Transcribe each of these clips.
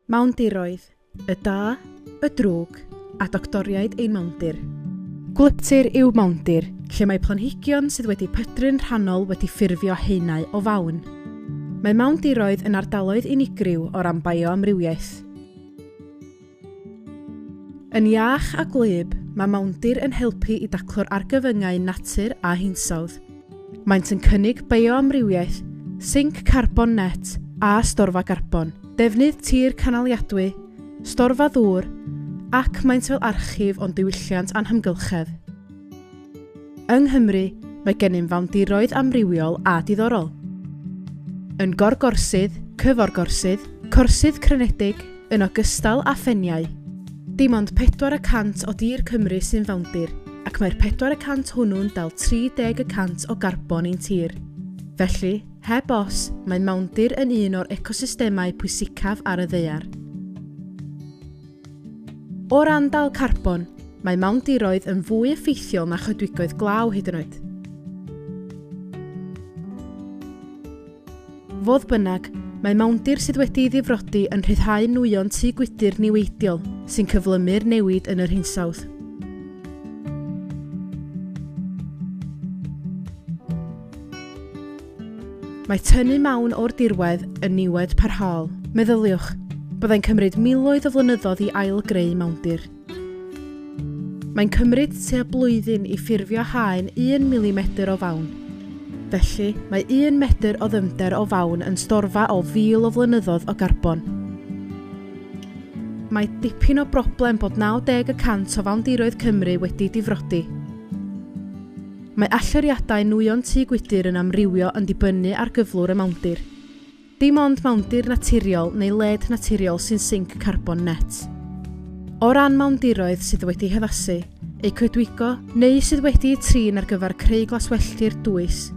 Mawndiroedd, y da, y drwg, a doctoriaid ein mawndir. Gwlyptir yw mawndir, lle mae planhigion sydd wedi pydru'n rhannol wedi ffurfio haenau o fawn. Mae mawndiroedd yn ardaloedd unigryw o ran bioamrywiaeth. Yn iach a gwlyb, mae mawndir yn helpu i daclo'r argyfyngau natur a hinsawdd. Maent yn cynnig bioamrywiaeth, sinc carbon net a storfa garbon, defnydd tir canaliadwy, storfa ddŵr, ac maent fel archif o'n diwylliant a'n hamgylchedd. Yng Nghymru, mae gennym fawndiroedd amrywiol a diddorol. Yn Gorgorsydd, Cyforgorsydd, Corsydd Crynedig, Yn ogystal â pheniau, dim ond pedwar y cant o dir Cymru sy'n fawndir, ac mae'r pedwar y cant hwnnw'n dal 30 y cant o garbon ein tir. Felly, heb os, mae mawndir yn un o'r ecosystemau pwysicaf ar y ddaear. O ran dal carbon, mae mawndiroedd yn fwy effeithiol na choedwigoedd glaw hyd yn oed. Fodd bynnag, mae mawndir sydd wedi'i ddifrodi yn rhyddhau nwyon tŷ gwydr niweidiol, sy'n cyflymu'r newid yn yr hinsawdd. Mae tynnu mawn o'r dirwedd yn niwed parhaol. Meddyliwch, byddai'n cymryd miloedd o flynyddoedd i ail-greu mawndir. Mae'n cymryd tua blwyddyn i ffurfio haen 1 milimedr o fawn. Felly, mae 1 medr o ddyfnder o fawn yn storfa o fil o flynyddoedd o garbon. Mae dipyn o broblem bod 90 y cant o fawndiroedd Cymru wedi difrodi. Mae allyriadau nwyon tŷ gwydr yn amrywio yn dibynnu ar gyflwr y mawndir. Dim ond mawndir naturiol neu led naturiol sy'n sinc carbon net. O ran mawndiroedd sydd wedi haddasu, eu coedwigo, neu sydd wedi'u trin ar gyfer creu glaswelltir dwys,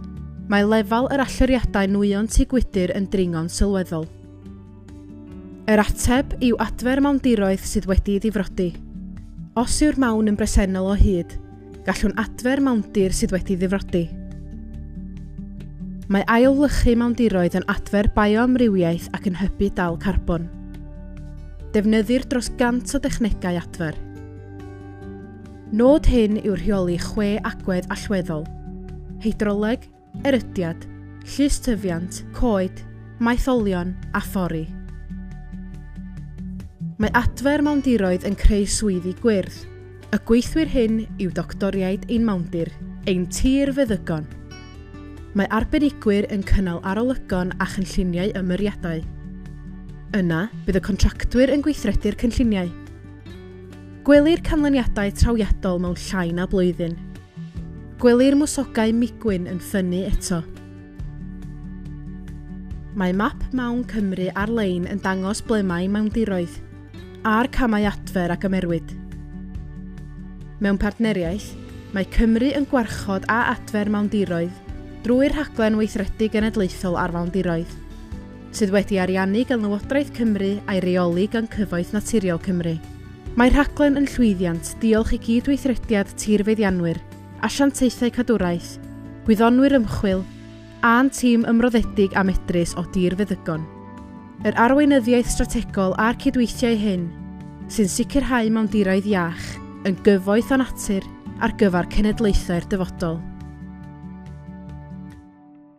mae lefel yr allyriadau nwyon tŷ gwydr yn dringo'n sylweddol. Yr ateb yw adfer mawndiroedd sydd wedi'i ddifrodi. Os yw'r mawn yn bresennol o hyd, Gallwn adfer mawndir sydd wedi ddifrodi. Mae ailwlychu mawndiroedd yn adfer bioamrywiaeth ac yn hybu dal carbon. Defnyddir dros 100 o dechnegau adfer. Nod hyn yw rheoli chwe agwedd allweddol, hydroleg, erydiad, llys tyfiant, coed, maetholion a thorri. Mae adfer mawndiroedd yn creu swyddi gwyrdd. Y gweithwyr hyn yw doctoriaid ein mawndir, ein tir feddygon. Mae arbenigwyr yn cynnal arolygon a chynlluniau ymyriadau. Yna, bydd y contractwyr yn gweithredu'r cynlluniau. Gwelir canlyniadau trawiadol mewn llai na blwyddyn. Gwelir mwsogau migwyn yn ffynnu eto. Mae map Mawn Cymru ar-lein yn dangos ble mae mawndiroedd, a'r camau adfer a gymerwyd. Mewn partneriaeth, mae Cymru yn gwarchod a adfer mawndiroedd drwy'r Rhaglen Weithredu Genedlaethol ar Fawndiroedd. sydd wedi ariannu gan Lywodraeth Cymru a'i reoli gan Cyfoeth Naturiol Cymru. Mae'r rhaglen yn llwyddiant diolch i gyd-weithrediad tirfeddianwyr, asiantaethau cadwraeth, gwyddonwyr ymchwil, a'n tîm ymroddedig a medrus o dir feddygon. Yr arweinyddiaeth strategol a'r cydweithiau hyn sy'n sicrhau mawndiroedd iach yn gyfoeth o natur ar gyfer cenedlaethau'r dyfodol.